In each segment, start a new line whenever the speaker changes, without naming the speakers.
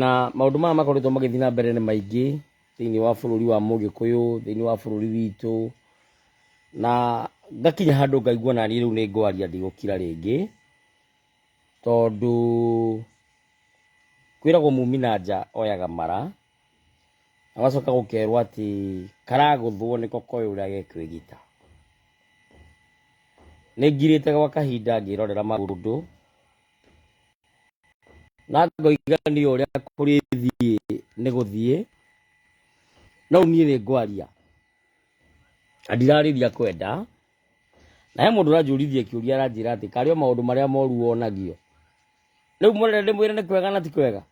Na maũndũ maya makoretwo magĩthiĩ na mbere nĩ maingĩ thĩinĩ wa bũrũri wa Mũgĩkũyũ, thĩinĩ wa bũrũri witũ, na ngakinya handũ ngaigua naniĩ rĩu nĩ ngwaria ndigũkira rĩngĩ, tondũ kwĩragwo mumi na nja oyaga mara, na ũgacoka gũkerwo atĩ karagũthwo nĩko koĩ ũrĩa gekwĩgita. Nĩ ngirĩte gwa kahinda ngĩrorera maũndũ. na ngoiga nĩ ũrĩa kũrĩ thiĩ nĩ gũthiĩ no niĩ nĩ ngwaria na ndirarĩria kwenda na he mũndũ ũranjũrithia kĩũria aranjĩra atĩ karĩ o maũndũ marĩa moru wonagio rĩu mũnene ndĩmwĩre nĩ kwega na ti kwega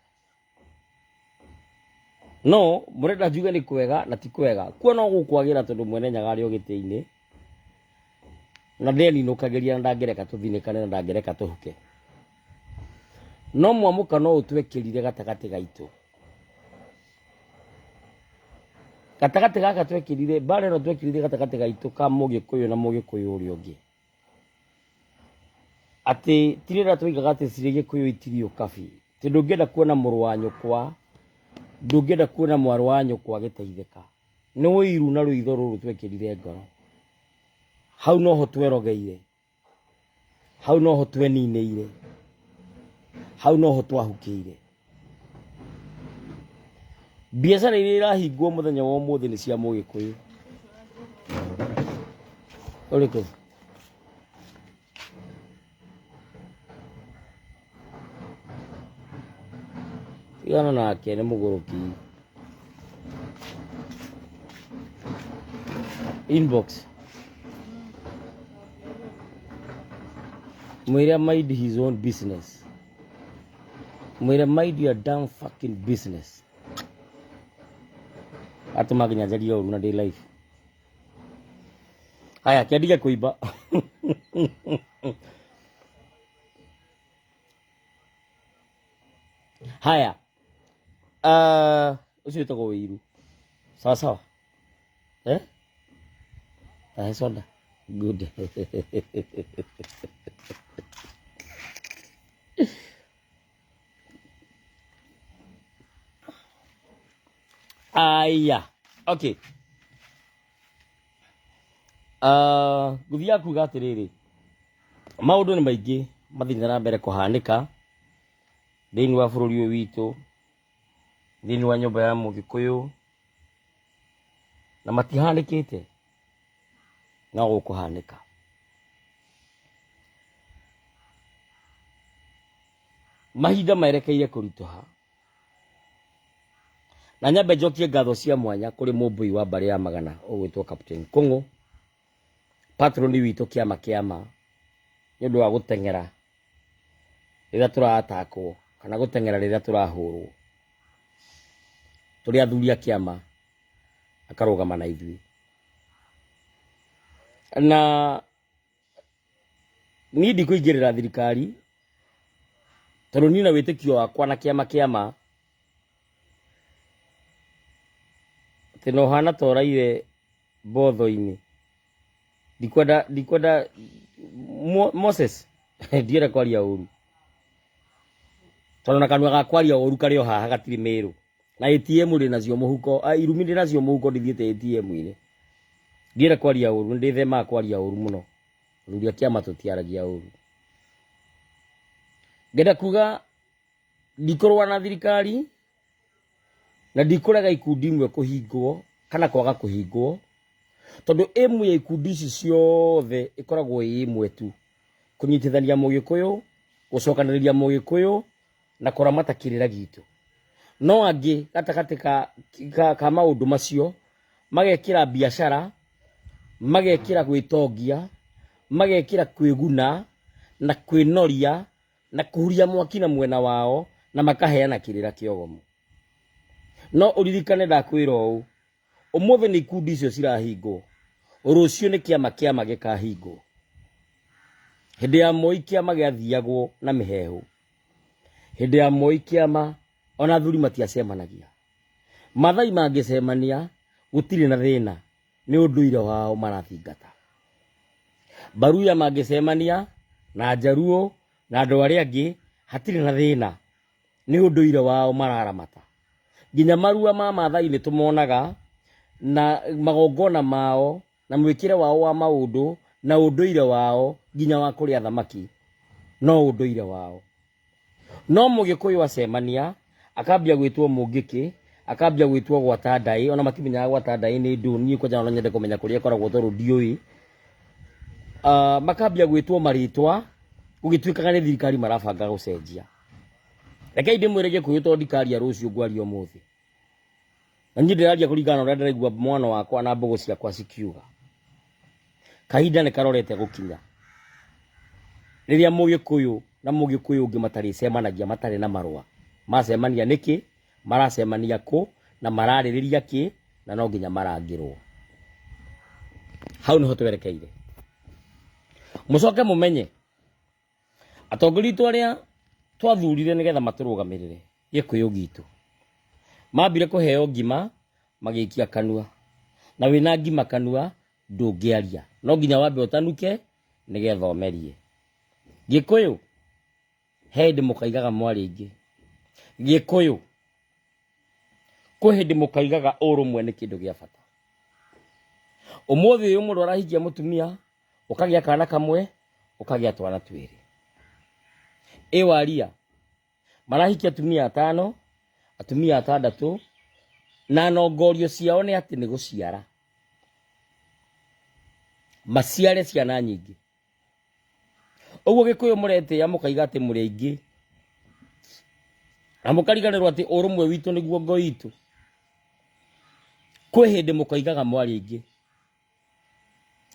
no murenda njuge ni kwega na ti kwega kuo no gukwagira tondu mwene nyaga ari ogitiini na ndeninukagiria na ndangereka tuthinikane na ndangereka tuhuke no mwamuka no utwekirire gatagati gaitu gatagati gaka twekirire mbara ino twekirire gatagati gaitu ka mugikuyu na mugikuyu uria ungi atĩ tirĩra twoigaga atĩ cirĩ gĩkũyũ itirio kabi atĩ ndũngĩenda kuona mũrũ wa nyũkwa ndũngĩenda kuona mwarũ wa nyũkwa agĩteithĩka nĩ ũiru na rũitho rũrũ twekĩrire ngoro hau noho twerogeire hau noho tweninĩire hau noho twahukĩire Biacara iria irahingwo mũthenya wa ũmũthĩ nĩ cia Mũgĩkũyũ. Ũrĩkũ? Tigana nake nĩ mũgũrũki. Inbox. Mwĩre mind his own business. mwire mind your damn fucking business atuma nginya njarie ũru na ndĩ live haya kĩandige kũimba haya Ah, ũcio wĩtagwo ũiru sawa sawa eh tahay soo dheh good aya okay Ah, gũthiaga kuga atĩrĩrĩ maũndũ nĩ maingĩ mathiĩte na mbere kũhanĩka thĩinĩ wa bũrũri ũyũ witũ thĩinĩ wa nyũmba ya mũgĩkũyũ na matihanĩkĩte no gũkũhanĩka mahinda maerekeire kũritũha na nyambe njokie ngatho cia mwanya kũrĩ mũmbũi wa mbarĩ ya magana ũgwĩtwo Captain Kũng'ũ Patroni witũ kĩama kĩama nĩ ũndũ wa gũteng'era rĩrĩa tũratakwo kana gũteng'era rĩrĩa tũrahũrwo. Tũrĩ athuri a kĩama akarũgama na ithuĩ. Na niĩ ndikũingĩrĩra thirikari tondũ niĩ na wĩtĩkio wakwa na kĩama kĩama atĩ na ũhana ta ũraire mbotho-inĩ ndikwenda ndikwenda Mo- moses ndiere kwaria ũru tondũ na kanua ga kwaria ũru karĩ o haha gatirĩ mĩrũ na atm ndĩ nacio mũhuko ah, irumi ndĩ nacio mũhuko ndithiĩte atm-inĩ ndiere kwaria ũru nĩ ndĩthemaga kwaria ũru mũno thuri a kĩama tũtiaragia ũru ngenda kuga ndikorwa na thirikari na ndikũrega ikundi imwe kũhingwo kana kwaga kũhingwo tondũ ĩmwe ya ikundi ici ciothe ĩkoragwo ĩ ĩmwe tu kũnyitithania mũgĩkũyũ gũcokanĩrĩria mũgĩkũyũ na kũramata kĩrĩra gitũ no angĩ gatagatĩ ka, ka, ka maũndũ macio magekĩra biacara magekĩra gwĩtongia magekĩra kwĩguna na kwĩnoria na kuhuria mwaki na mwena wao na makaheana kirira kiogomu no uririkane ndakwira uu umuthi ni ikundi icio cirahingwo rucio ni kiama kiama gikahingwo hindi ya moi kiama giathiagwo na mihehu hindi ya moi kiama ona thuri matiacemanagia mathai mangicemania gutiri na thina nĩ ũndũire wao marathingata. Mbaruya mangĩcemania na Njaruo na andũ arĩa angĩ hatirĩ na thĩna, nĩ ũndũire wao mararamata. Nginya marua ma Maathai nĩ tũmonaga na magongona mao na mwĩkĩre wao wa maũndũ na ũndũire wao nginya wa kũrĩa thamaki no ũndũire wao. No mũgĩkũyũ acemania, akambia gwĩtwo mũngĩkĩ, akambia gwĩtwo gwata ndaĩ, ona matimenyaga gwata ndaĩ nĩ ndũ, niĩ kwanja no nyende kũmenya kũrĩa ĩkoragwo tondũ ndiũĩ. Ah, makambia gwĩtwo marĩtwa, gũgĩtuĩkaga nĩ thirikari marabanga gũcenjia. Rekei ndĩmwĩre gĩkũyũ tondũ ndikaria rũciũ ngwaria ũmũthĩ. na niĩ ndĩraria kũringana na ũrĩa ndĩraigua mwana wakwa na mbũgũ ciakwa cikiuga kahinda nĩ karorete gũkinya rĩrĩa mũgĩkũyũ na mũgĩkũyũ ũngĩ matarĩcemanagia matarĩ na marũa macemania nĩkĩ maracemania kũ na mararĩrĩria kĩ na no nginya marangĩrwo hau nĩho twerekeire mũcoke mũmenye Atongoria itũ arĩa twathurire nĩgetha matũrũgamĩrĩre gĩkũyũ gitũ mambire kũheo ngima magĩikia kanua na wĩna ngima kanua ndũngĩaria no nginya wambe ũtanuke nĩgetha ũmerie gĩkũyũ he hĩndĩ mũkaigaga mwarĩ aingĩ gĩkũyũ kwĩ hĩndĩ mũkaigaga ũrũmwe nĩ kĩndũ gĩa bata ũmũthĩ ũyũ mũndũ arahikia mũtumia ũkagĩa kana kamwe ũkagĩa twana twĩrĩ ĩ waria marahikia atumia atano atumia atandatũ na nongorio ciao nĩ atĩ nĩ gũciara maciare ciana nyingĩ ũguo gĩkũyũ mũretĩa mũkaiga atĩ mũrĩ aingĩ na mũkariganĩrwo atĩ ũrũmwe witũ nĩguo ngoi itũ kwĩ hĩndĩ mũkoigaga mwarĩ aingĩ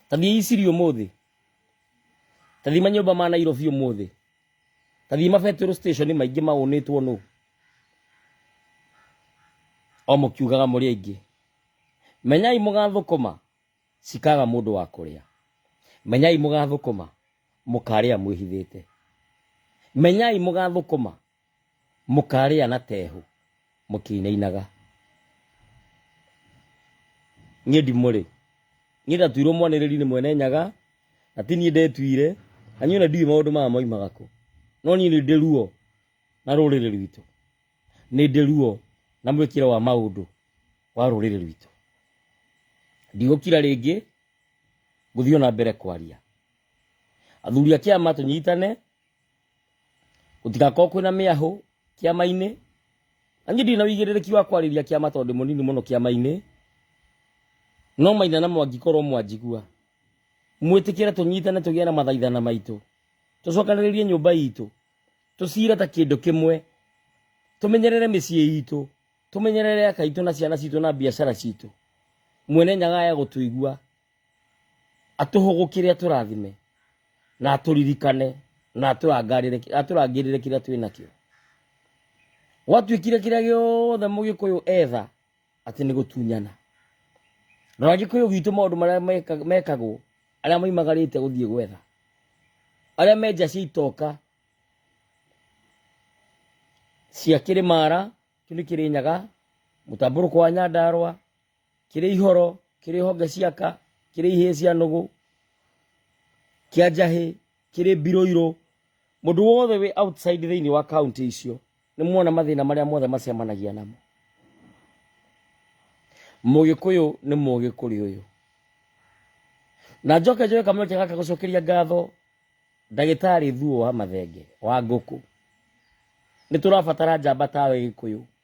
Tathiĩ Isiri ũmũthĩ. Tathiĩ manyũmba ma Nairobi ũmũthĩ. Tathiĩ mabetero station maingĩ maũnĩtwo nũ. O mũkiugaga mũrĩ aingĩ. Menyai mũgathũkũma cikaga mũndũ wa kũrĩa. Menyai mũgathũkũma mũkarĩa mwĩhithĩte. Menyai mũgathũkũma Mũkarĩa na tehu mũkĩinainaga. Niĩ ndimũrĩ. Niĩ ndatuirwo mwanĩrĩri nĩ mwene nyaga, na ti niĩ ndetuire, na niĩ ona ndiũĩ maũndũ maya maumaga kũ. No niĩ nĩ ndĩ ruo na rũrĩrĩ rwitũ. Nĩ ndĩ ruo na mwĩkĩre wa maũndũ wa rũrĩrĩ rwitũ. Ndigũkira rĩngĩ, ngũthiĩ ona mbere kwaria. Athuri a kĩama tũnyitane. gũtigakorwo kwĩna mĩahũ kĩama-inĩ na niĩ ndirĩ na ũigĩrĩrĩki wa kwarĩria kĩama tondũ ndĩ mũnini mũno kĩama-inĩ no maina na mwangĩkorwo mwanjigua mwĩtĩkĩre tũnyitane tũgĩe na mathaithana maitũ tũcokanĩrĩrie nyũmba itũ tũcire ta kĩndũ kĩmwe tũmenyerere mĩciĩ itũ tũmenyerere aka itũ na ciana citũ na biacara citũ mwene nyaga ya gũtũigua atũhũgũkĩre atũrathime na atũririkane na atũrangarĩre atũrangĩrĩre kĩrĩa twĩ nakĩo gwatuĩkire kĩrĩa gĩothe mũgĩkũyũ etha atĩ nĩ gũtunyana rora gĩkũyũ gitũ maũndũ marĩa meka- mekagwo arĩa maimagarĩte gũthiĩ gwetha arĩa menja cia itoka cia kĩrĩmara kĩu nĩ kĩrĩnyaga mũtambũrũko wa nyandarwa kĩrĩ ihoro kĩrĩ honge ciaka kĩrĩ ihĩĩ cia nũgũ kĩa njahĩ kĩrĩ mbirũirũ mũndũ wothe wĩ outside thĩinĩ wa kaunti icio nĩ muona mathĩna marĩa mothe macemanagia namo mũgĩkũyũ nĩ mũgĩ kũrĩ ũyũ na njoke njoke kamweke gaka gũcokeria ngatho ndagĩtarĩ thuo wa mathenge wa ngũkũ nĩ tũrabatara njamba tawe gĩkũyũ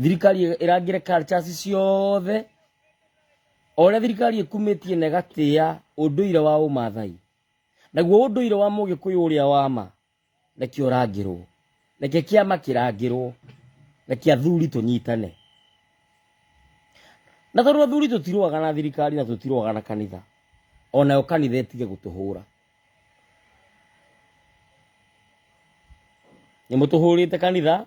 thirikari ĩrangĩre cultures ciothe o ũrĩa thirikari ĩkumĩtie na ĩgatĩa ũndũire wa ũmathai naguo ũndũire wa mũgĩkũyũ ũrĩa wa ma nĩkĩo ũrangĩrwo nĩkĩo kĩama kĩrangĩrwo nĩkĩo athuri tũnyitane na tondũ athuri tũtirũaga na thirikari na tũtirũaga na kanitha o nayo kanitha ĩtige gũtũhũra nĩ mũtũhũrĩte kanitha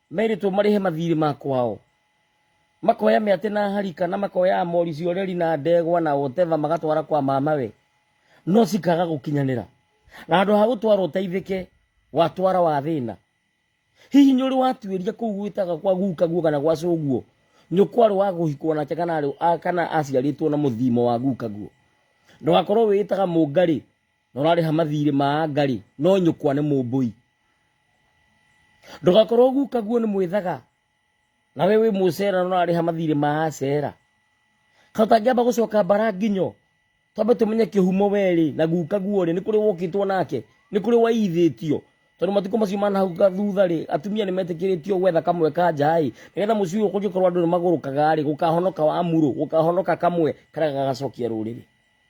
merĩtwo marĩhe mathiirĩ ma kwao makoya mĩatĩ na harika na makoya mori cioreri na ndegwa na whatever magatwara kwa mamawe no cikaga gũkinyanĩra na handũ ha gũtwara ũteithĩke watwara wa thĩna hihi nĩ ũrĩ watuĩria kũu gwĩtaga kwa guka guo kana gwa cũguo nyũkwarĩ wa gũhikwo nake kana arĩ- a- kana aciarĩtwo na mũthimo wa guka guo ndũgakorwo wĩĩtaga mũngarĩ na ũrarĩha mathirĩ ma anga rĩ no nyũkwa nĩ mũmbũi ndũgakorwo gukaguo nĩ mwĩthaga na we wĩ mũcera na ũrarĩha mathirĩ ma acera kana ũtangĩamba gũcoka mbara nginyo twambe tũmenye kĩhumo werĩ na guka guorĩ nĩ kũrĩ wokĩtwo nake nĩ kũrĩ waithĩtio tondũ matukũ macio manahau thutha rĩ atumia nĩ metĩkĩrĩtio gwetha kamwe ka njaĩ nĩgetha mũciĩ ũyũ kũngĩkorwo andũ nĩ magũrũkaga rĩ gũkahonoka wa murũ gũkahonoka kamwe karĩa gagacokia rũrĩrĩ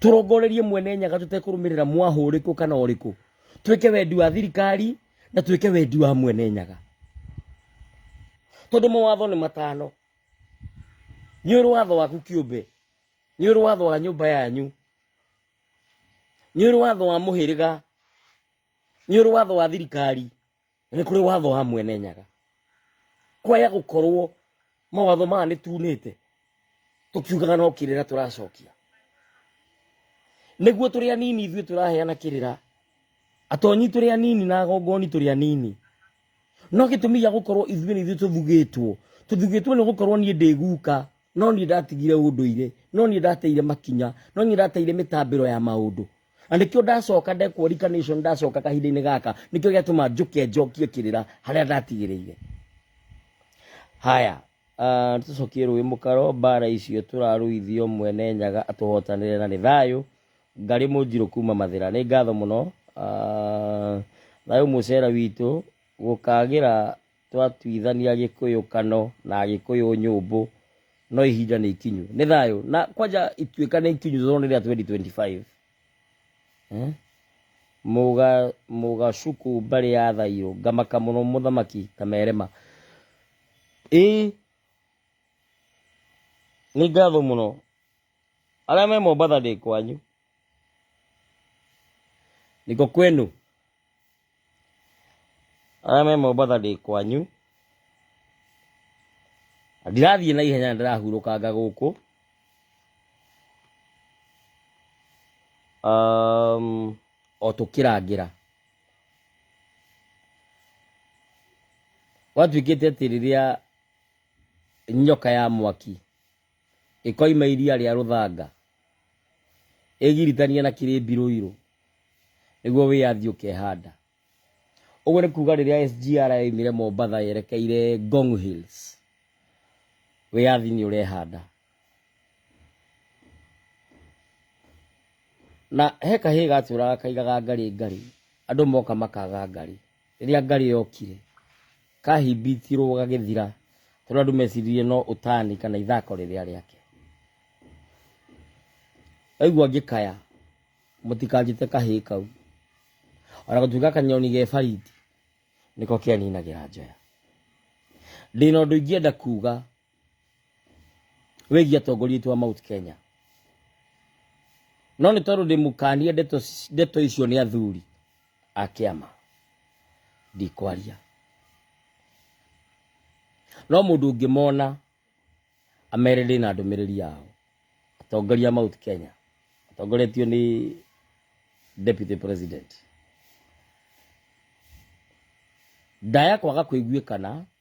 tũrongorerie mwene nyaga tũtekũrũmĩrĩra mwaha ũrĩkũ kana ũrĩkũ twĩke wendi wa thirikari na twĩke wendi wa mwene nyaga tondũ mawatho nĩ matano nĩ ũrĩ watho waku kĩũmbe nĩ ũrĩ watho wa nyũmba yanyu nĩ ũrĩ watho wa mũhĩrĩga nĩ ũrĩ watho wa thirikari nĩ kũrĩ watho wa mwene nyaga kwaya gũkorwo mawatho maya nĩ tunĩte tũkiugaga no kĩrĩra tũracokia nĩguo tũrĩ anini ithuĩ tũraheana kĩrĩra atonyi tũrĩ anini na agongoni tũrĩ anini no gĩtũmi gĩa gũkorwo ithuĩ nĩ ithuĩ tũthugĩtwo tũthugĩtwo nĩ gũkorwo niĩ ndĩ guka no niĩ ndatigire ũndũire no niĩ ndateire makinya no niĩ ndateire mĩtambĩro ya maũndũ na nĩkĩo ndacoka ndekwo reincarnation ndacoka kahinda-inĩ gaka nĩkĩo gĩatũma njũke njokie kĩrĩra harĩa ndatigĩrĩire haya ah, tũcokie rũĩ mũkaro mbara icio tũrarũithio mwene nyaga atũhotanĩre na nĩ thayũ ngarĩ mũnjirũ kuma mathĩra nĩ ngatho mũno Ah, thayũ mũcera witũ gũkagĩra twatuithania gikuyu kano na gikuyu nyumbu no ihinda ni ikinyu ni thayo na kwanja ituika ni ikinyu zono ni 2025 eh muga muga shuku mbari ya thayo ngamaka muno muthamaki kamerema eh ni ngatho muno aria me mombatha ndi kwanyu niko kwenu arĩa me mombatha ndĩ kwanyu Na ndirathiĩ na ihenya ndĩrahurũkanga gũkũ um, o tũkĩrangĩra gwatuĩkĩte atĩ rĩrĩa nyoka ya mwaki Ĩkoima iria rĩa rũthanga, ĩgiritanie na kĩrĩmbi rũirũ, nĩguo wĩyathi ũkehanda. Ũguo nĩ kuuga rĩrĩa SGR yoimire Mombatha yerekeire Ngong Hills, wĩyathi nĩ ũrehanda. Na he kahĩĩ gatũraga kaigaga ngarĩ ngarĩ, andũ moka makaga ngarĩ, Rĩrĩa ngarĩ yokire, kaahimbitirwo gagĩthira tondũ andũ meciririe no ũtani kana ithako rĩrĩa rĩake. Ndaigua ngĩkaya, mũtikanjĩte kahĩĩ kau. Ona gũtuĩka kanyoni ge bariti, nĩko keninagĩra njoya. Ndĩna ũndũ ingĩenda kuuga wĩgiĩ atongoria aitũ a Mount Kenya. No nĩ tondũ ndĩmũkanie ndeto ci- ndeto icio nĩ athuri a kĩama ndikwaria. No mũndũ ũngĩmona amere ndĩ na ndũmĩrĩri yao atongoria a Mount Kenya atongoretio nĩ deputy president ndaya kwaga kũiguĩkana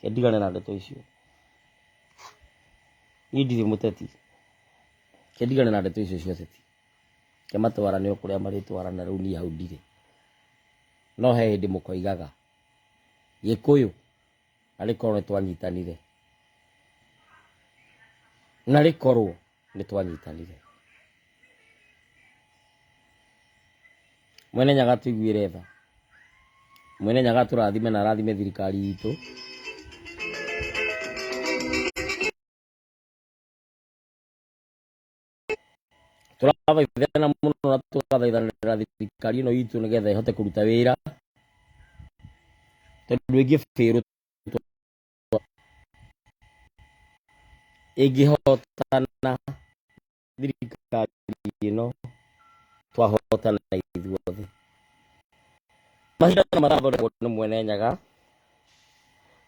Ke ndigane na ndeto icio. Niĩ ndirĩ mũteti. Ke ndigane na ndeto icio cia ũteti. Ke matwarane o kũrĩa marĩtwarana rĩu niĩ hau ndirĩ. No he hĩndĩ mũkoigaga Gĩkũyũ arĩ korwo nĩ twanyitanire. Na rĩkorwo. nĩ twanyitanire mwene nyaga tũiguĩre tha mwene nyaga tũrathime na arathime thirikari itũ tũrathaithana mũno na tũgathaithanĩra thirikari ĩno itũ nĩgetha ĩhote kũruta wĩra tondũ ĩngĩ bĩrũ ĩngĩhotana thirikari ĩno twahotana ithuothe macindano marathondekwo nĩ mwene nyaga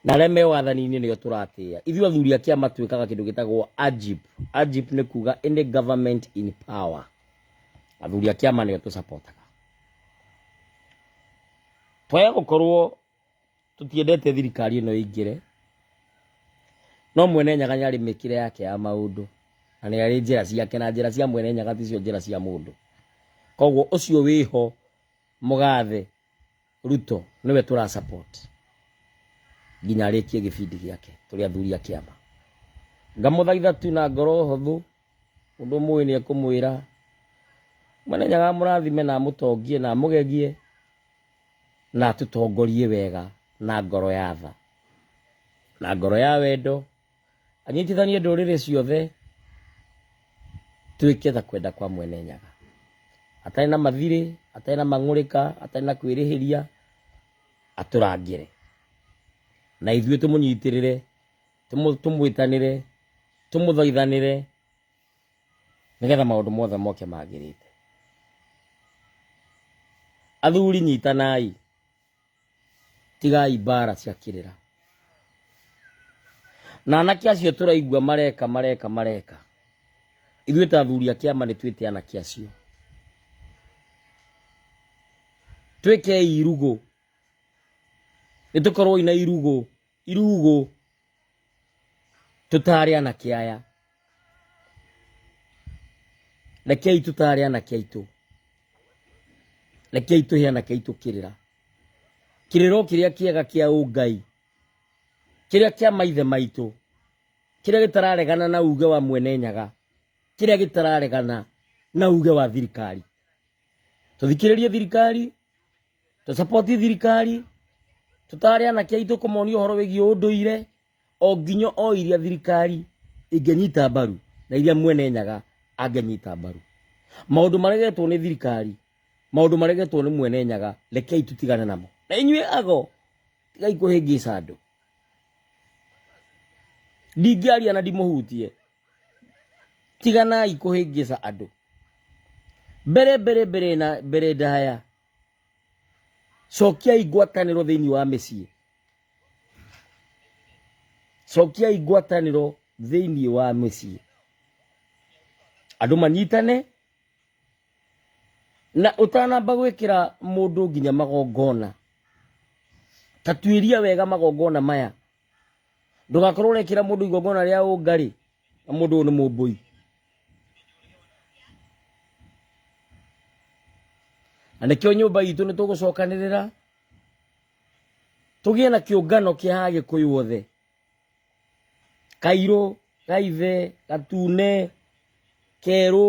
na arĩa me wathani-inĩ nĩo tũratĩa ithuĩ athuri a kĩama twĩkaga kĩndũ gĩtagwo ajip ajip nĩ kuga any government in power athuri a kĩama nĩo tũcapotaga twaya gũkorwo tũtiendete thirikari ĩno ĩingĩre no mwene nyaga nĩ arĩ mĩkĩre yake ya maũndũ na nĩ arĩ njĩra ciake na njĩra cia mwene nyaga ticio njĩra cia mũndũ koguo ũcio wĩho mũgathe ruto nĩwe tũra support nginya arĩkie gĩbindi gĩake tũrĩ athuri a kĩama ngamũthaitha tu na ngoro hũthũ Mũndũ mũĩ nĩ ekũmwĩra, Mwene Nyaga amũrathime na amũtongie na amũgegie na atũtongorie wega na ngoro ya tha na ngoro ya wendo, anyitithanie ndũrĩrĩ ciothe twĩke ta kwenda kwa Mwene Nyaga, atarĩ na mathirĩ, atarĩ na mang'ũrĩka, atarĩ na kwĩrĩhĩria, atũrangĩre na ithuĩ tũmũnyitĩrĩre. Tũmũ- tũmwĩtanĩre tũmũthaithanĩre nĩgetha maũndũ mothe moke magĩrĩte athuri nyitanai tigai mbara cia kĩrĩra na anake acio tũraigua mareka mareka mareka ithuĩ ta athuri a kĩama nĩ twĩte anake acio twĩkei irugũ nĩ tũkorwo ina irugũ Irugũ tũtaarĩ anake aya. Rekei tũtaare anake aitũ. Rekei tũhe anake aitũ kĩrĩra. Kĩrĩro kĩrĩa kĩega kĩa ũngai. Kĩrĩa kĩa maithe maitũ. Kĩrĩa gĩtararegana na uge wa mwene nyaga. Kĩrĩa gĩtararegana na uge wa thirikari. Tũthikĩrĩrie thirikari. tũcapoti thirikari tũtare anake aitũ kũmonia ũhoro wĩgiĩ ũndũire o nginya o iria thirikari ĩngĩnyita mbaru na iria mwene nyaga angĩnyita mbaru maũndũ maregetwo nĩ thirikari maũndũ maregetwo nĩ mwene nyaga rekei tũtigane namo na inyuĩ ago tigai kũhĩngĩca andũ ndingĩaria na ndimũhutie tiganai kũhĩngĩca andũ mbere mbere mbere na mbere ndaya cokiai ngwatanĩro thĩinĩ wa mĩciĩ cokiai ngwatanĩro thĩinĩ wa mĩciĩ andũ manyitane na ũtanamba gwĩkĩra mũndũ nginya magongona tatuĩria wega magongona maya ndũgakorwo ũrekĩra mũndũ igongona rĩa ũngari na mũndũ ũyũ nĩ mũmbũi na nĩkĩo nyũmba itũ nĩ tũgũcokanĩrĩra tũgĩe na kĩũngano kĩa agĩkũyũ othe kairũ gaithe gatune kerũ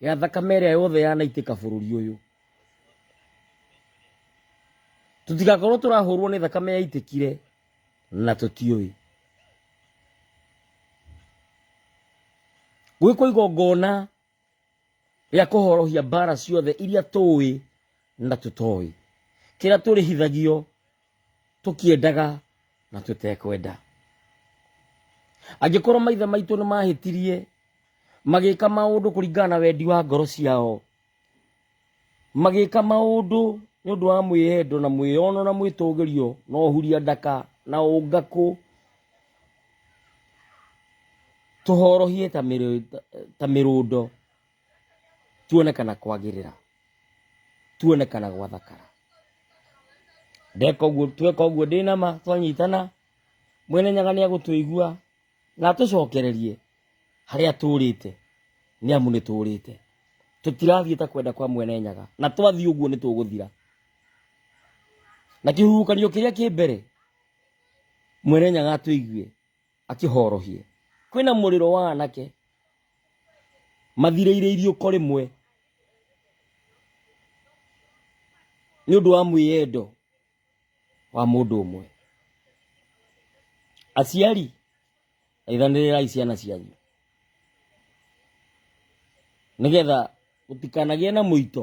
ya thakame ĩrĩa yothe yanaitĩka bũrũri ũyũ tũtigakorwo tũrahũrwo nĩ thakame yaitĩkire na tũtiũĩ gwĩkwo igongona rĩa kũhorohia mbara ciothe iria tũĩ na tũtoĩ kĩrĩa tũrĩhithagio tũkĩendaga na tũtekwenda angĩkorwo maithe maitũ nĩ mahĩtirie magĩka maũndũ kũringana na wendi wa ngoro ciao magĩka maũndũ nĩ ũndũ wa mwĩyendo na mwĩyono na mwĩtũgĩrio na ũhuria ndaka na ũngakũ tũhorohie ta mĩrũndo tuone kana kwagirira tuone kana gwathakara ndeka uguo tweka uguo ndina ma twanyitana mwene nyaga ni agutuigua na atucokererie haria turite ni amu ni turite tutirathiä ta kwenda kwa mwene nyaga na twathiä å guo nä tå gå thira na kä huhukanio kä rä a kä mbere mwene nyaga atå iguä akĩhorohie. Kwĩna mũrĩro wa anake mathirĩire iriũko rĩmwe nĩ ũndũ wa mwĩyendo wa mũndũ ũmwe. Aciari aithanĩrĩrai ciana cianyu nĩgetha gũtikanagĩe na mũito.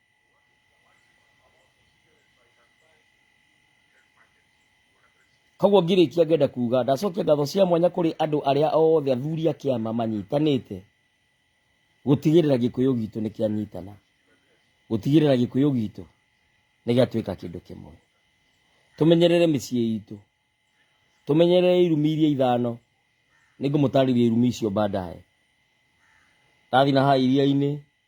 Koguo ngirĩkia ngenda kuga ndacokia ngatho cia mwanya kũrĩ andũ arĩa othe athuri a kĩama manyitanĩte gũtigĩrĩra gĩkũyũ gitũ nĩ kĩanyitana gũtigĩrĩra gĩkũyũ gitũ nĩ gĩatuĩka kĩndũ kĩmwe tũmenyerere mĩciĩ itũ tũmenyerere irumi iria ithano nĩ ngũmũtarĩria irumi icio baadaye ndathi na haha iria-inĩ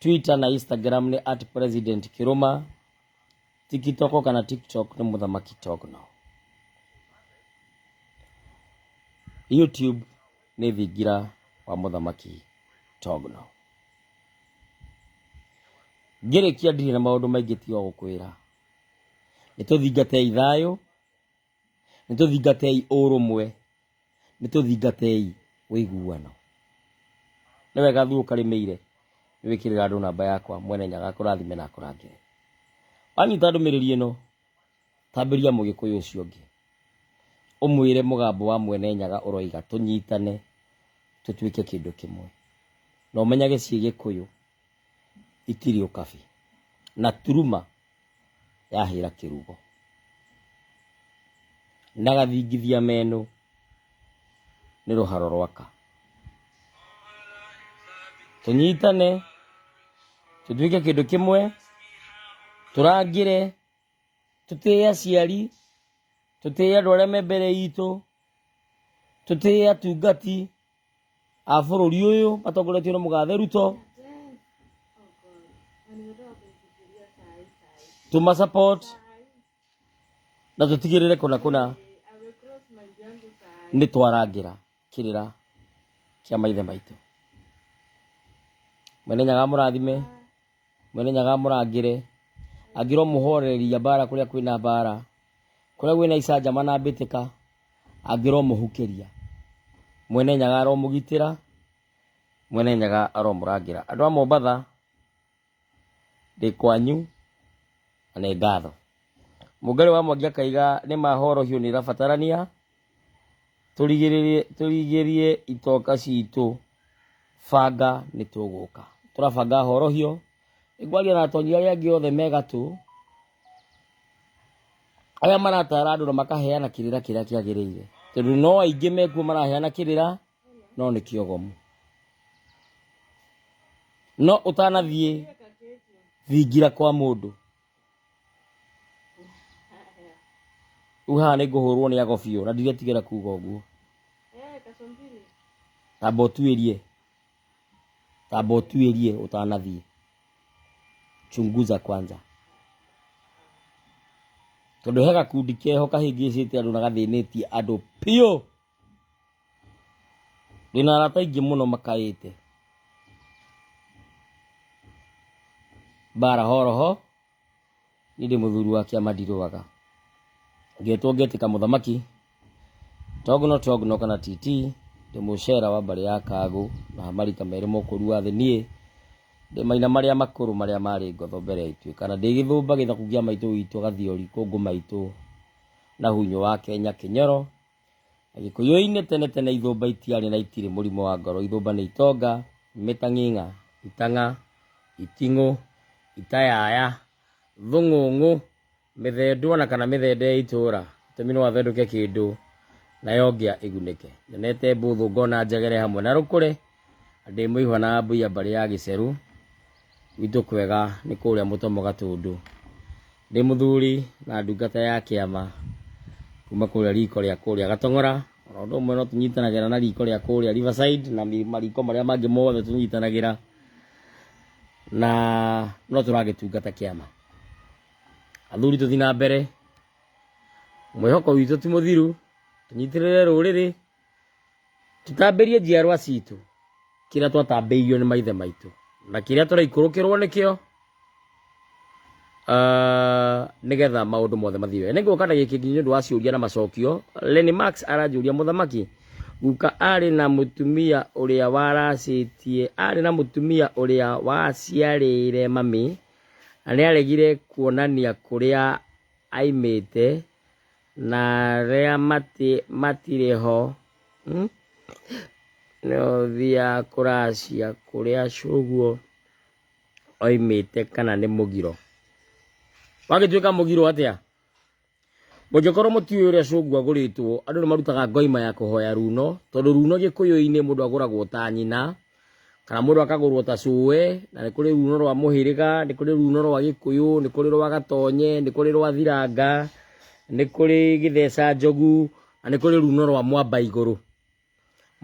twitter na instagram nĩ at president kiruma tikitoko kana tiktok nĩ mũthamaki tokno youtube nĩ thingira wa mũthamaki togno ngĩrĩkia ndirĩ na maũndũ maingĩ tiga gũkwĩra nĩ tũthingatei thayũ Nĩ tũthingatei ũrũmwe, nĩ tũthingatei ũiguano. Nĩ wega thiĩ ũkarĩmĩire nĩ wĩkĩrĩra andũ namba yakwa Mwene Nyaga akũrathime na akũrangĩre. Wanyita ndũmĩrĩri ĩno, tambĩria mũgĩkũyũ ũcio ũngĩ ũmwĩre mũgambo wa Mwene Nyaga ũroiga tũnyitane tũtuĩke kĩndũ kĩmwe. Na ũmenyage ciĩ gĩkũyũ ikirio kabi na turuma yahĩra kĩrugo na gathingithia meno nĩ rũharo rwaka tũnyitane tũtuĩke kĩndũ kĩmwe tũrangĩre tũtĩe aciari tũtĩe andũ arĩa me mbere itũ tũtĩe atungati a bũrũri ũyũ matongoretio nĩ mũgathe Ruto tuma support na tũtigĩrĩre kũna kũna nĩ twarangĩra kĩrĩra kĩa maithe maitũ mwene nyaga mũrathime mwene nyaga mũrangĩre angĩrwo mũhorereria mbara kũrĩa kwĩna mbara kũrĩa gwĩna icanjama na mbĩtĩka angĩrwo mũhukĩria mwene nyaga aromũgitĩra mwene nyaga aromũrangĩra andũ a mombatha ndĩ kwanyu na nĩ ngatho mũngarĩ wa mwangi akaiga nĩ mahorohio nĩ ĩrabatarania tũrigĩrĩrie tũrigĩrie itoka citũ banga nĩ tũgũka tũrabanga horohio ngwaria na atonyi arĩa angĩ othe me gatũ arĩa maratara andũ na makaheana kĩrĩra kĩrĩa kĩagĩrĩire tondũ no aingĩ mekuo maraheana kĩrĩra no nĩ kĩogomu no ũtanathiĩ thingira kwa mũndũ rĩu haha nĩ ngũhũrwo nĩ ago biũ na ndiretigĩra kuga ũguo tamba ũtuĩrie tamba ũtuĩrie ũtanathiĩ chunguza kwanza tondå he gakundi keho kahä ngä cä te andå na gathä nä tie andå piå ndĩna arata aingĩ mũno makaĩte mbara horoho niĩ ndĩ mũthuri wa kĩama ndirũaga ngetwo ngetĩka mũthamaki tog no tog no kana tt ndĩ mũcera wa mbarĩ ya kagũ na marika merĩ mũkũru wa thĩ niĩ ndĩ maina marĩa makũrũ marĩa marĩ ngotho mbere ya ituĩka na ndĩ gĩthũmba gĩthaku gĩa maitũ witũ gathiori kũngũ maitũ na hunyũ wa kenya kĩnyoro Gĩkũyũ-inĩ tene tene ithũmba itiarĩ na itirĩ mũrimũ wa ngoro. Ithũmba nĩ itonga, imitang'ing'a, itang'a, iting'ũ, itayaya, thũng'ũng'ũ, mĩthendu ona kana mĩthende ya itũũra. Itũmi no athendũke kĩndũ nayo ngĩa ĩgunĩke. Nyonete mbũthũ ngona njegere hamwe na rũkũre Ndĩ mũihwa na mbuya mbarĩ ya gĩcerũ, gwitũ kwega nĩ kũrĩa mũtomo gatũndũ. Ndĩ mũthuri na ndungata ya kĩama kuma kũrĩa riko rĩa kũrĩa gatong'ora, oro ũndũ ũmwe no tũnyitanagĩra na riko rĩa kũrĩa riverside na mariko marĩa mangĩ mothe tũnyitanagĩra, na no tũragĩtungata kĩama. Athuri tũthiĩ na mbere, mwĩhoko witũ ti mũthiru, tũnyitĩrĩre rũrĩrĩ Tũtambĩrie njiarwa citũ kĩrĩa twatambĩirio nĩ maithe maitũ na kĩrĩa tũraikũrũkĩrwo nĩkĩo ah, nĩgetha maũndũ mothe mathiĩ wega. Nĩngũka na gĩkĩ nĩ ũndũ wa ciũria na macokio. Lenny Max aranjũria mũthamaki, guka arĩ na mũtumia ũrĩa waracĩtie, arĩ na mũtumia ũrĩa waciarĩire mami na nĩaregire kuonania kũrĩa aimĩte Na arĩa matirĩ ho hmm? nĩo thiaga kũracia kũrĩa cũguo oimĩte kana nĩ mũgiro wagĩtuĩka mũgiro atĩa mũngĩkorwo mũtiũĩ ũrĩa cũngu agũrĩtwo andũ nĩ marutaga ngoima ya kũhoya runo tondũ runo gĩkũyũ-inĩ mũndũ agũragwo ta nyina kana mũndũ akagũrwo ta cũe na nĩ kũrĩ runo rwa mũhĩrĩga nĩ kũrĩ runo rwa gĩkũyũ nĩ kũrĩ rwa gatonye nĩ kũrĩ rwa thiranga nĩ kũrĩ gĩtheca njogu na nĩ kũrĩ runo rwa mwamba igũrũ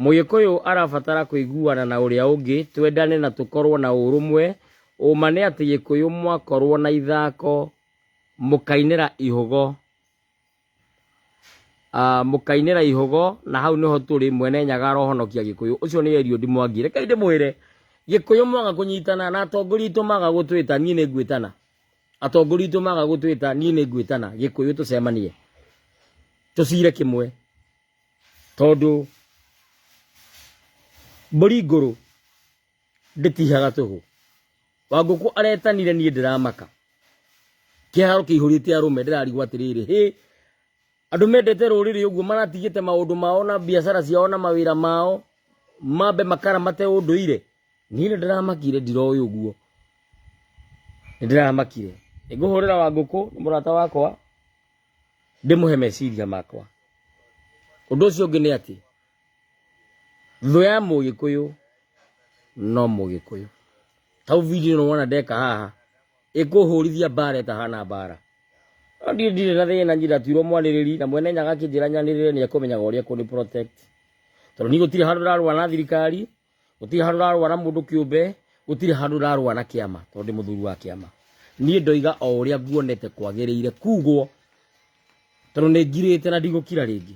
mũgĩkũyũ arabatara kũiguana na ũrĩa ũngĩ twendane na tũkorwo na ũrũmwe ũma nĩ atĩ gĩkũyũ mwakorwo na ithako mũkainĩra ihũgo Ah, mũkainĩra ihũgo na hau nĩho tũrĩ mwene nyaga arohonokia gĩkũyũ ũcio nĩ eriodi mwangi reke ndĩmwĩre gĩkũyũ mwaga kũnyitana na atongoria itũ maga gũtwĩta niĩ nĩ ngwĩtana atongoria itũ maga gũtwĩta niĩ nĩ ngwĩtana gĩkũyũ tũcemanie tũcire kĩmwe tondũ mbũri ngũrũ ndĩtihaga tũhũ wangũkũ aretanire niĩ ndĩramaka kĩharo kĩihũrĩte arũme ndĩrarigwo atĩrĩrĩ hĩ andũ mendete rũrĩrĩ ũguo maratigĩte maũndũ mao na biacara ciao na mawĩra mao mambe makaramate ũndũire niĩ nĩ ndĩramakire ndiroĩ ũguo nĩ ndĩramakire ngũhũrĩra wa ngũkũ nĩ mũrata wakwa ndĩmũhe meciria makwa ũndũ ũcio ũngĩ nĩ atĩ thũ ya mũgĩkũyũ no mũgĩkũyũ tau video no wona ndeka haha ĩkũhũrithia mbara ĩtahana mbara no ndirĩ ndirĩ na thĩna njiratirwo mwanĩrĩri na mwene nyaga akĩnjĩra nyanĩrĩre nĩ ekũmenyaga ũrĩa kũnĩ protect tondũ niĩ gũtirĩ handũ rarũa na thirikari gũtirĩ handũ rarũa na mũndũ kĩũmbe gũtirĩ handũ rarũa na kĩama tondũ ndĩ mũthuri wa kĩama niĩ ndoiga o ũrĩa nguonete kwagĩrĩire kugwo tondũ nĩ ngirĩte na ndigũkira rĩngĩ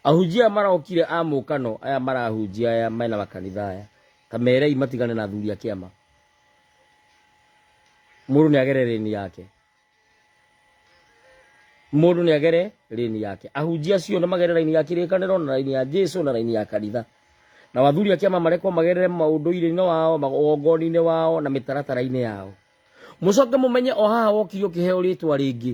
Ahunjia marokire a mũkano aya marahunjia aya mena makanitha aya kamerei matigane na athuri a kĩama mũndũ nĩ agere rĩni yake mũndũ nĩ agere rĩni yake ahunjia acio nĩ magere raini ya kĩrĩkanĩro na raini ya Jesu na raini ya kanitha na wathuri a kĩama marekwo magerere maũndũire-inĩ wao magongoni-inĩ wao na mĩtaratara-inĩ yao mũcoke mũmenye o haha wokire ũkĩheo rĩtwa rĩngĩ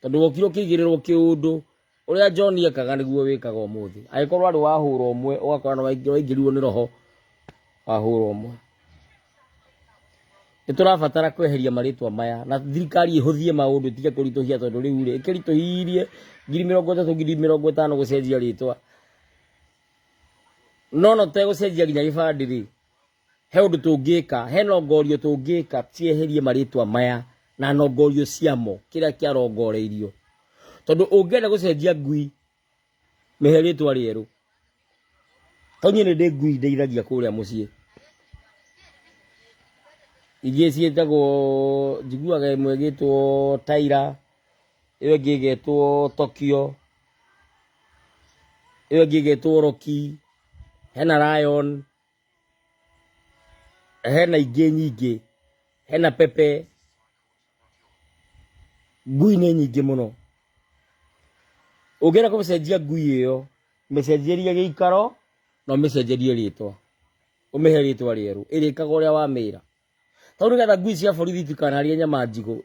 tondũ wokire ũkĩigĩrĩrwo kĩũndũ ũrĩa John ekaga nĩguo wĩkaga ũmũthĩ agĩkorwo arĩ wahũra ũmwe ũgakora nĩ waingĩ- waingĩrirwo nĩ roho wahũra ũmwe nĩ tũrabatara kweheria marĩtwa maya na thirikari ĩhũthie maũndũ ĩtige kũritũhia tondũ rĩu rĩ ĩkĩritũhirie ngiri mĩrongo ĩtatũ ngiri mĩrongo ĩtano gũcenjia rĩtwa no no tegũcenjia nginya gĩbandĩ rĩ he ũndũ tũngĩka he nongorio tũngĩka tieherie marĩtwa maya na nongorio ciamo kĩrĩa kĩarongoreirio tondũ ũngĩenda gũcenjia ngui mĩhe rĩtwa rĩerũ to niĩ nĩ ndĩ ngui ndeithagia kũrĩa mũciĩ ingĩ ciĩtagwo njiguaga ĩmwe ĩgĩtwo taira ĩyo ĩngĩ ĩgetwo tokyo ĩyo ĩngĩ ĩgetwo roki hena lion hena ingĩ nyingĩ hena pepe ngui nĩ nyingĩ mũno ũngĩenda kũmĩcenjia ngui ĩyo mĩcenjerie gĩikaro na ũmĩcenjerie rĩtwa ũmĩhe rĩtwa rĩerũ ĩrĩkaga ũrĩa wamĩra tau nĩgetha ngui cia borithi itikanarĩe nyama njigũ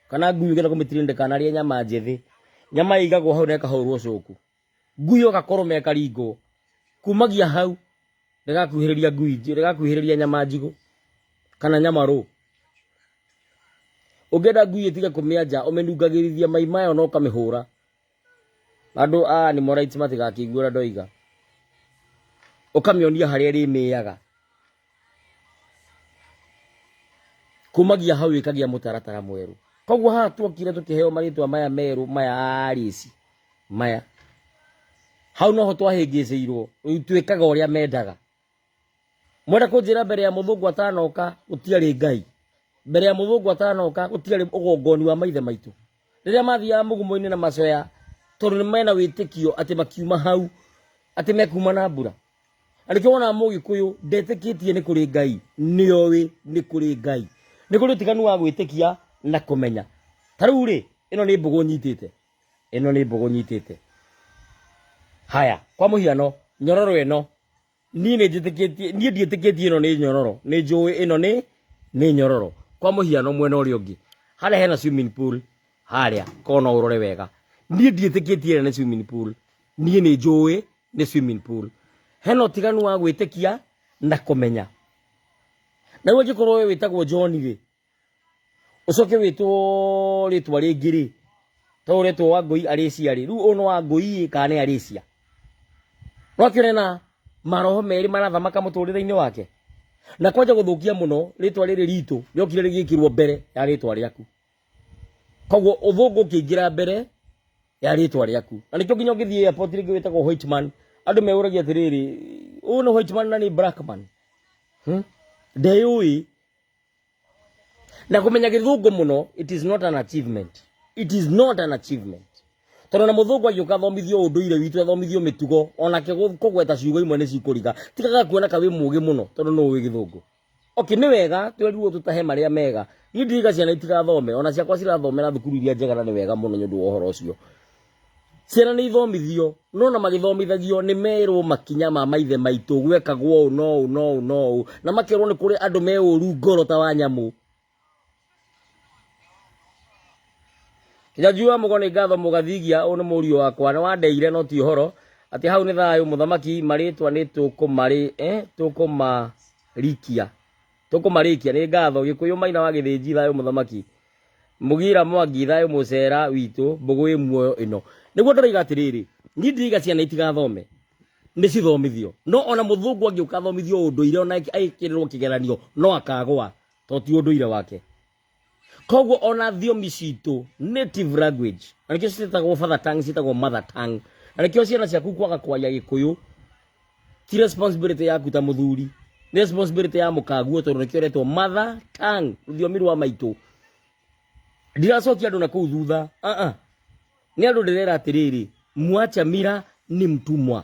kana ngui ũngĩenda kũmĩtirinde ndĩkanarĩe nyama njĩthĩ nyama ĩigagwo hau na ĩkahũrwo cũku Ngui yo gakũrũme karingo. Kumagia hau ndĩgakuhĩrĩria ngui nji- ndĩgakuhĩrĩria nyama njigũ kana nyama rũ. Ũngĩenda ngui ĩtige kũmĩanja ũmĩnungagĩrithia mai mayo na ũkamĩhũra. Andũ a animal rights matigakĩigue ũrĩa ndoiga. Ũkamĩonia harĩa ĩrĩmĩaga. kumagia hau ikagia mutaratara mweru koguo haha twokire tukiheo maritwa maya meru maya arisi maya hau noho twahĩngĩcĩirwo rĩu twĩkaga ũrĩa mendaga mwenda kũnjĩra mbere ya mũthũngũ atanoka gũtiarĩ ngai mbere ya mũthũngũ atanoka gũtiarĩ ũgongoni wa maithe maitũ rĩrĩa mathiaga mũgumo-inĩ na macoya tondũ nĩ mena wĩtĩkio atĩ makiuma hau atĩ mekuma na mbura arĩkĩ wona mũgĩkũyũ ndetĩkĩtie nĩ kũrĩ ngai nĩ oĩ nĩ kũrĩ ngai nĩ kũrĩ ũtiganu wa gwĩtĩkia na kũmenya ta rĩu rĩ ĩno nĩ mbũgũ nyitĩte ĩno nĩ mbũgũ nyitĩte haya kwa mũhiano nyororo ĩno niĩ nĩ njĩtĩkĩtie niĩ ndiĩtĩkĩtie ĩno nĩ nyororo nĩ njũĩ ĩno nĩ nĩ nyororo kwa mũhiano mwena ũrĩa ũngĩ harĩa hena swimming pool harĩa kona ũrore wega niĩ ndiĩtĩkĩtie ĩrĩa nĩ swimming pool niĩ nĩ njũĩ nĩ swimming pool hena ũtiganu wa gwĩtĩkia na kũmenya na rĩu angĩkorwo we wĩtagwo john rĩ ũcoke wĩtwo rĩtwa rĩngĩ rĩ to ũretwo wa ngũi arĩcia rĩ rĩu ũyũ nĩ wa ngũi kana nĩ arĩcia no akĩone na maroho merĩ marathamaka mũtũrĩre-inĩ wake na kwanja gũthũkia mũno rĩtwa rĩrĩ ritũ rĩokire rĩgĩkĩrwo mbere ya rĩtwa rĩaku koguo uthungu ukiingira mbere ya ritwa riaku na nikio nginya ngithie airport ringi witagwo white man andu meuragia atiriri uyu ni white man na ni black man hmm? ndeyui na kumenya githungu muno it is not an achievement it is not an achievement tondu na muthungu agiuka athomithio unduire witu athomithio mitugo onake kugweta ciugo imwe ni cikuriga tigaga kuona ka wi mugi muno tondu no wi githungu Okay, nĩ wega twerirwo tũtahe marĩa mega niĩ ndiriga ciana itigathome ona ciakwa cirathomera thukuru iria njega na nĩ wega mũno nĩ ũndũ wa ũhoro ũcio ciana nĩ ithomithio no na magĩthomithagio nĩ merwo makinya ma maithe maitũ gwekagwo ũũ no ũũ no ũũ no ũũ na makerwo nĩ kũrĩ andũ me ũru ngoro ta wa nyamũ Nyanjua mũgo nĩ ngatho mũgathigia ũũ nĩ mũriũ wakwa nĩ wandeire no ti ũhoro atĩ hau nĩ thayũ mũthamaki marĩtwa nĩ tũkũmarĩ eh, tũkũmarikia tũkũmarĩkia nĩ ngatho gĩkũyũ maina wa gĩthĩnji thayũ mũthamaki mugira mwangi thayũ mũcera witũ mbũgũ ĩ muoyo ĩno nĩguo ndĩroiga atĩrĩrĩ niĩ ndiriga ciana itigathome nĩ cithomithio no ona mũthũngũ angĩũka athomithio ũndũire ona agĩkĩrĩrwo kĩgeranio no akagwa to ti ũndũire wake koguo ona thiomi citũ native language na nĩkĩo citagwo father tongue citagwo mother tongue na nĩkĩo ciana ciaku kwaga kwaria gĩkũyũ ti responsibility yaku ta mũthuri nĩ responsibility ya mũkaguo tondũ nĩkĩo retwo mother tongue rũthiomi rwa maitũ ndiracokia andũ na kũu thutha uh -uh. nĩ andũ ndĩrera atĩrĩrĩ mwacha mira ni mtumwa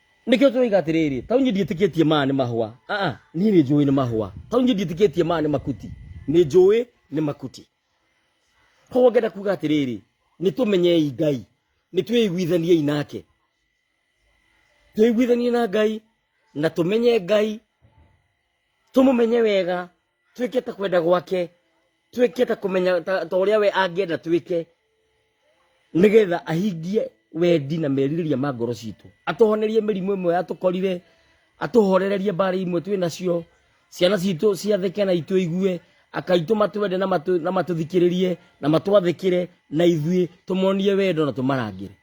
nĩkĩo tũroiga atĩrĩrĩ tau nyĩ ndiĩtĩkĩtie maya nĩ mahũa aa niĩ nĩ njũĩ nĩ mahũa tau nyĩ ndiĩtĩkĩtie maya nĩ makuti nĩ njũĩ nĩ makuti koguo ngenda kuga atĩrĩrĩ nĩ tũmenyei ngai nĩ twĩiguithaniei nake twĩiguithanie na ngai na tũmenye ngai tũmũmenye wega twĩke ta kwenda gwake twĩke ta kũmenya ta ta ũrĩa we angĩenda twĩke nĩgetha ahingie wendi na merirĩria ma ngoro citũ atũhonerie mĩrimũ ĩmwe yatũkorire atũhorererie mbarĩ imwe twĩ nacio ciana citũ ciathĩke na itũ igue akaitũma twende na matũ- na matũthikĩrĩrie na matwathĩkĩre na ithuĩ tũmonie wendo na tũmarangĩre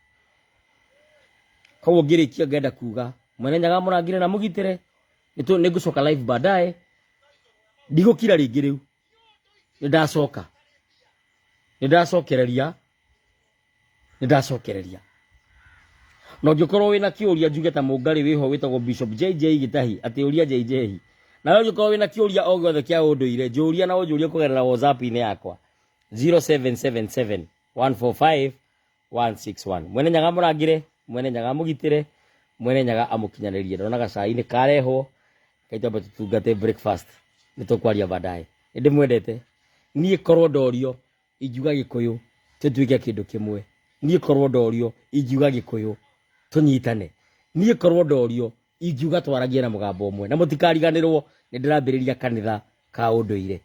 koguo ngĩrĩkia ngenda kuga mwene nyaga mũrangĩre na mũgitĩre Nĩtũ- nĩngũcoka live baadaye ndigũkira rĩngĩ rĩu nĩndacoka nĩndacokereria nĩndacokereria na ũngĩkorwo wĩna kĩũria njuge ta mũngarĩ wĩho wĩtagwo bishop jj gĩtahi atĩ ũria jj nawe ũngĩkorwo wĩna kĩũria o gĩothe kĩa ũndũire njũria na ũnjũrie kũgerera whatsapp-inĩ yakwa 0777 145 161 mwene nyaga amũrangĩre mwene nyaga amũgitĩre mwene nyaga amũkinyanĩrie ndona gacai nĩ karehwo kaitwambe tũtungate breakfast nĩ tũkwaria baadaye nĩ ndĩmwendete niĩ korwo ndorio ingiuga gĩkũyũ tũtuĩke kĩndũ kĩmwe niĩ korwo ndorio ingiuga gĩkũyũ tũnyitane niĩ korwo ndorio ingiuga twaragie na mũgambo ũmwe na mũtikariganĩrwo nĩ ndĩrambĩrĩria kanitha ka ũndũire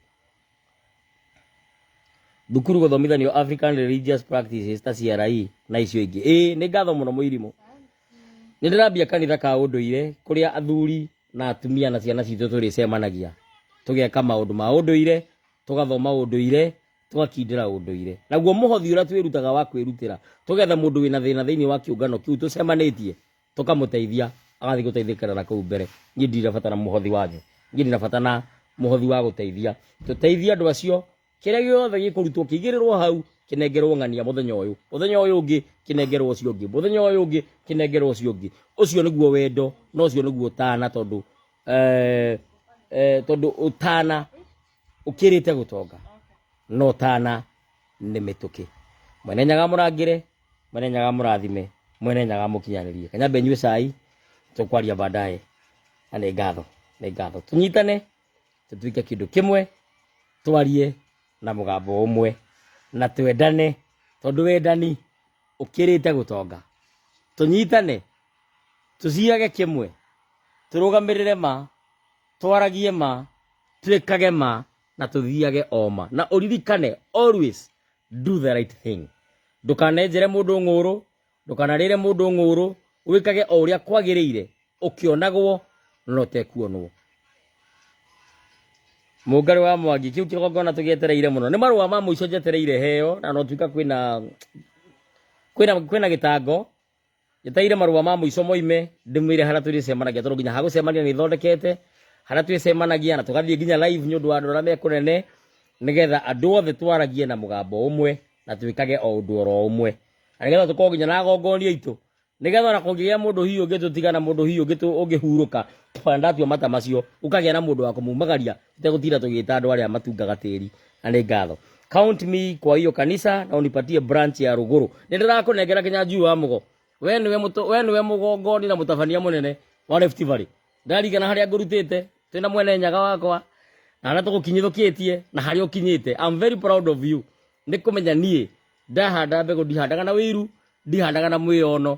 thukuru gũthomithanio african religious practices ta CRE na icio ingĩ ĩĩ nĩ ngatho mũno mũirimũ nĩ ndĩrambia kanitha ka ũndũire kũrĩa athuri na atumia na ciana citũ tũrĩcemanagia tũgeka maũndũ ma ũndũire tũgathoma ũndũire tũgakindĩra ũndũire naguo mũhothi ũrĩa twĩrutaga wa kwĩrutĩra tũgetha mũndũ wĩna thĩna thĩinĩ wa kĩũngano kĩu tũcemanĩtie tũkamũteithia agathiĩ gũteithĩkĩra na kũu mbere niĩ ndirabatara mũhothi wanyu niĩ ndirabatara na mũhothi wa gũteithia tũteithie andũ acio kĩrĩa gĩothe gĩkũrutwo kĩigĩrĩrwo hau kĩnengerwo ng'ania mũthenya ũyũ mũthenya ũyũ ũngĩ kĩnengerwo ũcio ũngĩ mũthenya ũyũ ũngĩ kĩnengerwo ũcio ũngĩ ũcio nĩguo wendo na ũcio nĩguo ũtana tondũ eh, eh, tondũ ũtana ũkĩrĩte gũtonga no ũtana nĩ mĩtũkĩ mwene nyaga mũrangĩre mwene nyaga mũrathime mwene nyaga mũkinyanĩrie kanyambe nyue cai tũkwaria baadaye na nĩ ngatho nĩ ngatho tũnyitane tũtuĩke kĩndũ kĩmwe twarie na mũgambo ũmwe na twendane tondũ wendani ũkĩrĩte gũtonga tũnyitane tũciage kĩmwe tũrũgamĩrĩre ma twaragie ma twĩkage ma na tũthiage o ma na ũririkane always do the right thing ndukanenjere mundu ng'uru ndukanarire mundu ng'uru wikage o uria kwagirire ukionagwo na utekuonwo mungari wa mwangi kiu kigongona tugietereire muno ni marua ma muico njetereire heo na no tuika kwina kwina kwina gitango njetereire marũa ma mũico moime ndĩmwĩre harĩa tũrĩcemanagia tondũ nginya hagũcemania nĩ ithondekete harĩa twĩcemanagia na tũgathiĩ nginya live nĩ ũndũ wa andũ arĩa me kũnene nĩgetha andũ othe twaragie na mũgambo ũmwe na twĩkage o ũndũ oro ũmwe na nĩgetha tũkorwo nginya na agongonia aitũ nĩgetha ona kũngĩgĩa mũndũ hihi ũngĩtũtiga na mũndũ hihi ũngĩtũ- ũngĩhurũka ona ndatua mata macio ũkagĩa na mũndũ wa kũmumagaria Tegũtinda tũgĩta andũ arĩa matungaga tĩri na nĩ ngatho. Count me kwa hiyo kanisa na unipatie branch ya Rũgũrũ. Nĩ ndĩrakũnengera kinya njui wa mũgo. We nĩwe mũto- we nĩwe mũgongoni na mũtabania mũnene wa Rift Valley. Ndarigana harĩa ngũrutĩte twĩ na mwene nyaga wakwa na harĩa tũgũkinyithũkĩtie na harĩa ũkinyĩte. I'm very proud of you. Nĩ kũmenya niĩ ndahanda mbegũ ndihandaga na wĩiru ndihandaga na mwĩono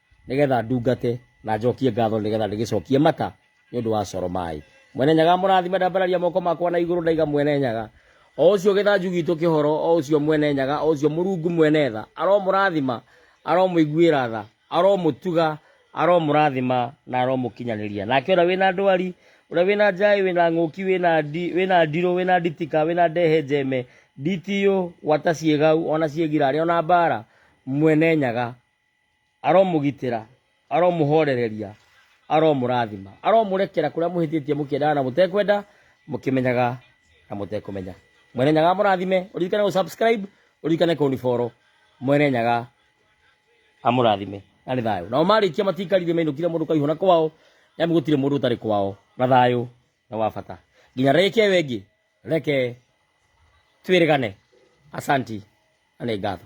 nĩgetha ndungate na njokie ngatho nĩgetha ndĩgĩcokie mata nĩ ũndũ wa coro maĩ mwene nyaga mũrathime ndambararia moko makwa na igũrũ ndaiga mwene nyaga o ũcio gĩthanju gitũ kĩhoro o ũcio mwene nyaga o ũcio mũrungu mwene tha aromũrathima aromũiguĩra tha aromũtuga aromũrathima na aromũkinyanĩria nake ũrĩa wĩna ndwari ũrĩa wĩna njaĩ wĩna ng'ũki wĩna ndi- wĩna ndirũ wĩna nditika wĩna ndehe njeme nditiyũ gwata ciĩgau ona ciĩgirarĩ ona mbara mwene nyaga aromũgitĩra aromũhorereria aromũrathima aromũrekera kũrĩa mũhĩtĩtie mũkĩendaga na mũtekwenda mũkĩmenyaga na mũtekũmenya mwene nyaga amũrathime ũririkane gũ subscribe ũririkane kũniboro mwene nyaga amũrathime na nĩ thayũ nao marĩkia matikarire mainũkire mũndũ kaihũ na kwao nĩamu gũtirĩ mũndũ ũtarĩ kwao na thayũ na wa bata nginya reke wengĩ reke twĩrĩgane asanti na nĩ ngatho